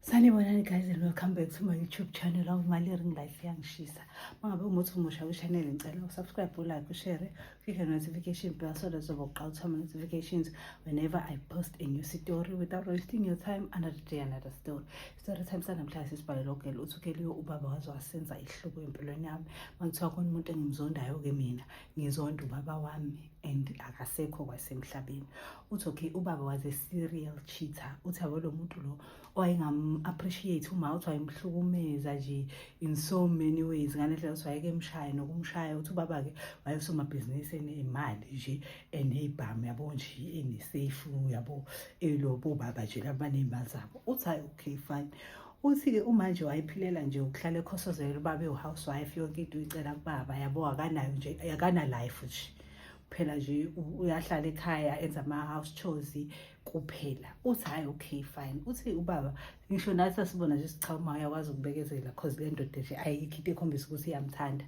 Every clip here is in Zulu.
sanibonani guys and welcome back to my youtube channel awumali ring life yangishisa mangabe umuthi umusha kwishanel ngicela usubscribe ulike ushare click the notification bell so that uzoba uqala uthoma notifications whenever i post a new story without wasting your time another day another story story time sanamhlanje sisibhalelo gela uthi ukeliyo ubaba waze wasenza ihluko empilweni yami mangithiwa khona umuntu engimzondayo-ke mina ngizonda ubaba wami and akasekho kwasemhlabeni uthi okay ubaba was a serial cheater uthi yabo lo muntu lo wayengam-appreciate uma uthi wayemhlukumeza nje in so many ways ngale ndlela uthi wayekemshaya nokumshaya uthi ubaba-ke wayesomabhizinisi enemali nje eneyibhamu yabo nje enesefu yabo elobo baba nje labaneyimali zabo uthi hayi okay fine Uthi-ke umanje wayephilela nje ukuhlala ekhosozela ubaba ewu-housewife yonke into uyicela kubaba yabo akanayo nje akanalife nje kuphela nje uyahlala ekhaya enza ama-house chores kuphela uthi hhayi okay fine uthi ubaba ngisho nathi asibona nje sichawuma uyakwazi ukubekezela cause le ndoda nje ayikho into ekhombisa ukuthi iyamthanda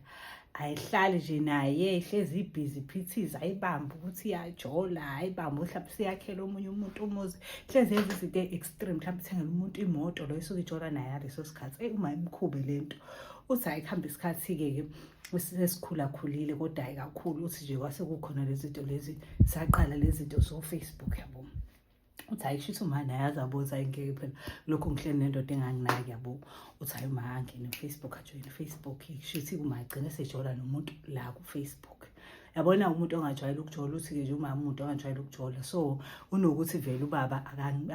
ayihlali nje naye ihlezi ibhizi phithiza ayibambe ukuthi iyajola ayibambe mhlawumbe siyakhela omunye umuntu umuzi hlezi yenza izinto e-extreme mhlawumbe ithengela umuntu imoto lo isuke ijola naye ngaleso sikhathi eyi uma imkhube le nto uthi hayi kuhambe isikhathi-ke ke sesikhulakhulile kodwa hayi kakhulu uthi nje kwase kukhona lezi zinto lezi saqala lezi zinto so-facebook yabona uthi hayi kushuthi uma naye azabuza ayingeke phela lokhu ngihleli nendoda enganginaki yabo uthi hayi uma angene ufacebook ajoyine ufacebook kushuthi uma agcine sejola nomuntu la kufacebook yabona umuntu ongajwayele ukujola uthi-ke nje umama umuntu ongajwayele ukujola so unokuthi vele ubaba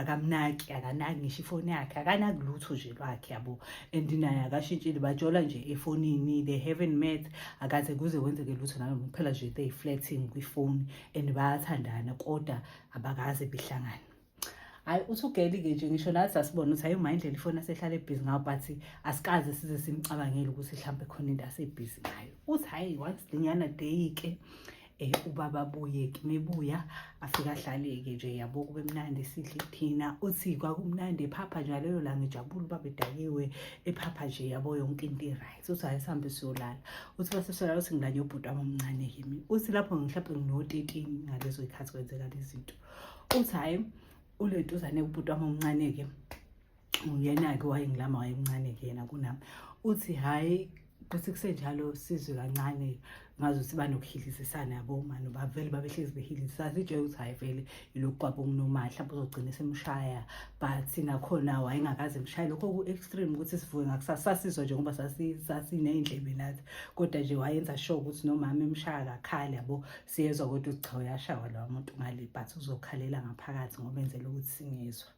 akamnaki akanaki ngisho ifoni yakhe akanaki lutho nje lwakhe yabo and naye akashintshile bajola nje efonini they haven't met akaze kuze kwenzeke lutho nalo phela nje they flirting kwifoni and bayathandana kodwa abakaze behlangane hayi uthi ugeli-ke nje ngisho nathi asibona ukuthi hayi uma indlela ifoni asehlale ebhizi ngayo but asikaze size simcabangele ukuthi mhlawumbe khona into asebhizi ngayo uthi hayi once linyana deyike um eh, ubaba abuye-ke mebuya afike ahlale-ke nje yabo kube mnandi sidle thina uthi kwakumnandi ephapha njalo leyo langa ijabula ubaba edakiwe ephapha nje yabo yonke into iright uthi hayi sihambe siyolala uthi base solala uthi ngilanye ubhuti wami omncane kimi uthi lapho ngihlaphe ngino-13 ngalezo ikhathi kwenzeka lezinto uthi hayi ulentuzane ubhuti wami omncane-ke uyena-ke wayengilama wayemncane-ke yena kunami uthi hhayi kuthi kusenjalo sizwe kancane-ke ngazi ukuthi banokuhilizisana yabo mani bavele babehlezi behilizisa sijele ukuthi hhayi vele yilokhu kwabo kunomali mhlawumbe uzogcina semshaya but nakhona wayengakaze mshaye lokho ku-extreme ukuthi sivuke ngakusasa sasizwa nje ngoba sasiney'ndlebe nathi kodwa nje wayenza sure ukuthi nomama emshaya kakhali yabo siyezwa kodwa ukuthi cha uyashawa lowa muntu ngale but uzokhalela ngaphakathi ngoba enzela ukuthi singezwa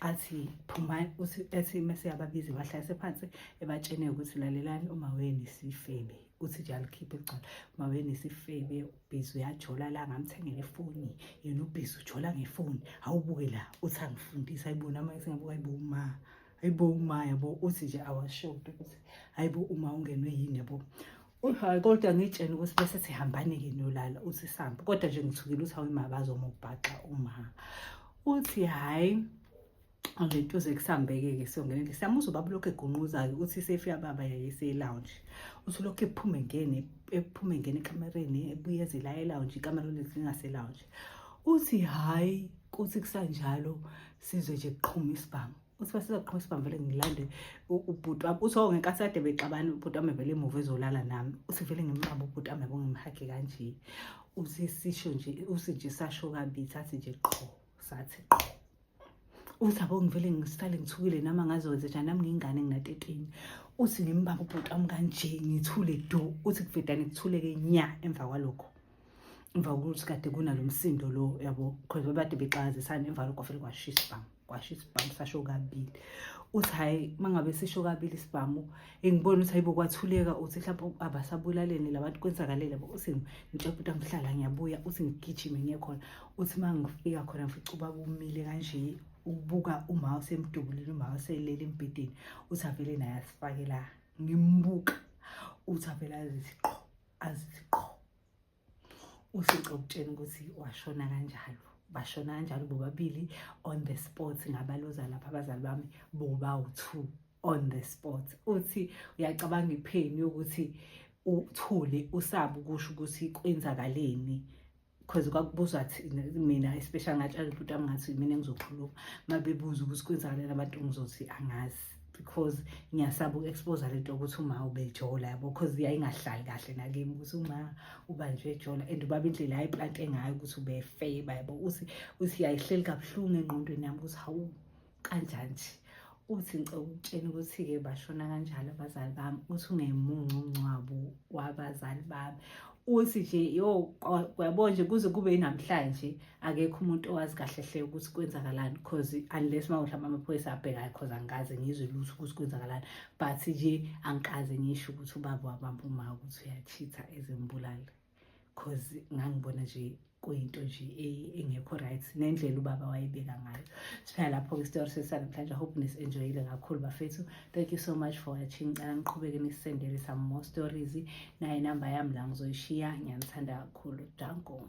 athi phumani uthi ethi mese yababiza bahlalise phansi ebatshene ukuthi lalelani uma weni sifebe uthi nje alikhiphe ligcwala uma weni sifebe ubhizi uyajola la ngamthengela ifoni yena ubhizi ujola ngefoni awubuke la uthi angifundisa ayibona uma esingabuka ayibo uma ayibo uma yabo uthi nje awashoti ukuthi ayibo uma ungenwe yini yabo hayi kodwa ngitshena ukuthi bese sihambane-ke nolala uthi sambe kodwa nje ngithukile ukuthi awuyima bazomubhaxa umama uthi hhayi ngento zekusambeke-ke siyongenele siyamuza ubaba ulokhu egunquza-ke ukuthi isefika baba yayiseyilounge uthi ulokhu ephume ngene ephume ngene ekamereni ebuye ezela elounge ikamera lolezi lingaselounge uthi hhayi kuthi kusanjalo sizwe nje kuqhuma isibhamu uthi basizoqhuma isibambele ngilande ubhuti wami uthi oh, ngenkathi kade bexabana ubhuti wami vele emuva ezolala nami uthi vele ngimqaba ubhuti wami yabo ngimhage kanje uthi sisho nje uthi nje sasho kabili sathi nje qho sathi qho uthi abo ngivele ngisale ngithukile nami angazowenze njani nami ngiyingane nginatetini uthi ngimbamba ubhuti wami kanje ngithule do uthi kuvedane kuthuleke nya emva kwalokho emva kokuthi kade kunalo msindo lo yabo because babade bexakazisana emva lokho vele kwashisa bami kwasho isibhamu sasho kabili uthi hhayi uma ngabe sisho kabili isibhamu engibona ukuthi hayibo kwathuleka uthi mhlawumbe abasabulaleni labantu kwenzakalele bo uthi ngitshepa ukuthi angihlala ngiyabuya uthi ngigijime ngiye khona uthi uma ngifika khona ngifica ubaba umile kanje ukubuka uma usemdubulile uma uselele embhedeni uthi avele naye asifake la ngimbuka uthi avele azithi qho azithi qho ushixo ukutshena ukuthi washona kanjalo bashona kanjalo bobabili on the spot ngabaloza lapha abazali bami bobawu-two on the spot uthi uyacabanga ipheni yokuthi uthule usabe ukusho ukuthi kwenzakaleni because kwakubuzwa mina especially ngatshela ubhuti wami ngathi mina ngizokhuluma uma bebuza ukuthi kwenzakaleni abantu ngizothi angazi because ngiyasaba uku-expose lento yokuthi uma ubejola yabo because yayingahlali kahle nakimi ukuthi uma ubanjwe ejola and ubaba indlela ayiplante ngayo ukuthi ubefeba yabo uthi uthi yayihleli kabuhlungu engqondweni yami ukuthi hawu kanjani nje uthi ngicela ukutshena ukuthi-ke bashona kanjalo abazali bami uthi ungemuncu umngcwabo wabazali bami uthi nje yo uyabo nje kuze kube yinamhlanje akekho umuntu owazi kahle hle ukuthi kwenzakalani because unless uma mhlawumbe amaphoyisa abhekayo because angikaze ngizwe lutho ukuthi kwenzakalani but nje angikaze ngisho ukuthi ubaba wabamba uma ukuthi uyachitha ezimbulala because ngangibona nje kuyinto nje e-, engekho right nendlela ubaba wayebeka ngayo siphela lapho-ke isitori sesanamhlanje hope nis-enjoyile kakhulu bafethu thank you so much for watching ngicela niqhubeke nisendele some more stories naye inamba yami la ngizoyishiya ngiyanithanda kakhulu danko